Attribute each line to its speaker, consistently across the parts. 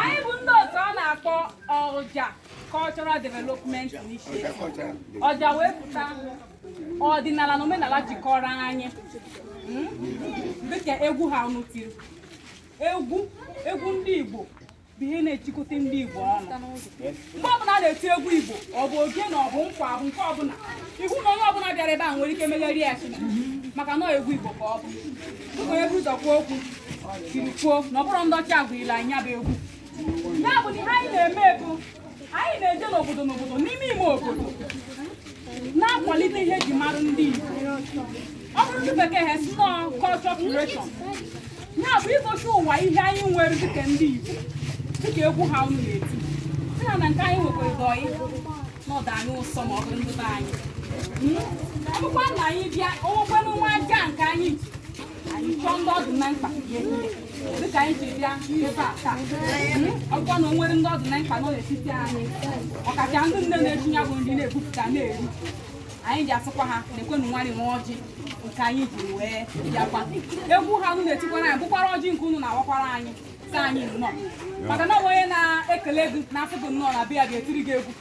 Speaker 1: anyị bụ ndị otu a na-akpọ ọja cultural development initiative ọja wee pụta ọdịnala na omenala jikọrọ anyị hmm? dịka egwu ha unu tiri egwu ndị Igbo bụ ihe na-echikọta ndị Igbo ọnụ mgbe ọbụla a na-eti egwu Igbo ọ bụ ogene ọ bụ nkwa ọ bụ nke ọbụla ị hụ na onye ọbụla bịara ebe a nwere ike megharịa isi maka na egwu Igbo ka ọ bụ dịka onye buru ụzọ kwuo okwu jiri kwuo na ọ bụrụ ndị ọcha gwara anyị ya bụ egwu ya bụ na ihe anyị na-eme bụ anyị na-eje n'obodo n'obodo n'ime ime obodo na-akwalite ihe e ji mara ndị Igbo ọ bụrụ ndị bekee ha sị na ọ bụ culture curation ya bụ igosi ụwa ihe anyị nwere dịka ndị Igbo dịka egwu ha unu na-eti sị na nke anyị nwekwara dọị na ọ dị anyị ụsọ ma ọ bụrụ ndị be anyị ọ bụkwa na anyị bịa o nwekwanụ nwa aja nke anyị ji anyị chọọ ndị ọ dị na mkpa ya dịka anyị ji bịa ebe a taa ọ bụkwa na o nwere ndị ọ dị na mkpa nọ n'etiti anyị ọkacha ndị nne na-esi ya bụ nri na-ebupụta na-eri anyị ji asịkwa ha nekwanụ nwanị nwa ọjị nke anyị ji wee bịakwa egwu ha unu na-etikwara anyị bụkwara ọjị nke unu na-awakwara anyị sị anyị nnọọ maka na onye na-ekele gị na-asị gị nnọọ na-abịa ga-etiri gị egwu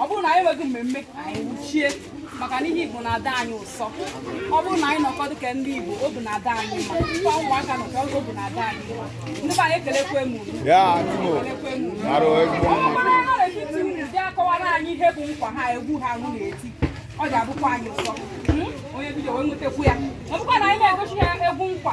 Speaker 1: ọ bụrụ na anyị nwezi mmemme anyị wuchie maka na ihe Igbo na-adị anyị ụsọ ọ bụrụ na anyị nọkọ dịka ndị Igbo obi na-adị anyị mma kwa ụmụaka nọkọ obi na-adị anyị mma ndị be anyị ekelekwa m ọkwara nọ n'etiti unu bịa kọwara anyị ihe bụ nkwa ha egwu ha unu na-eti ọ ga-abụkwa anyị ụsọ hmm? onye bido wee nwetakwu ya ọ bụkwa na anyị na-egosi ya egwu nkwa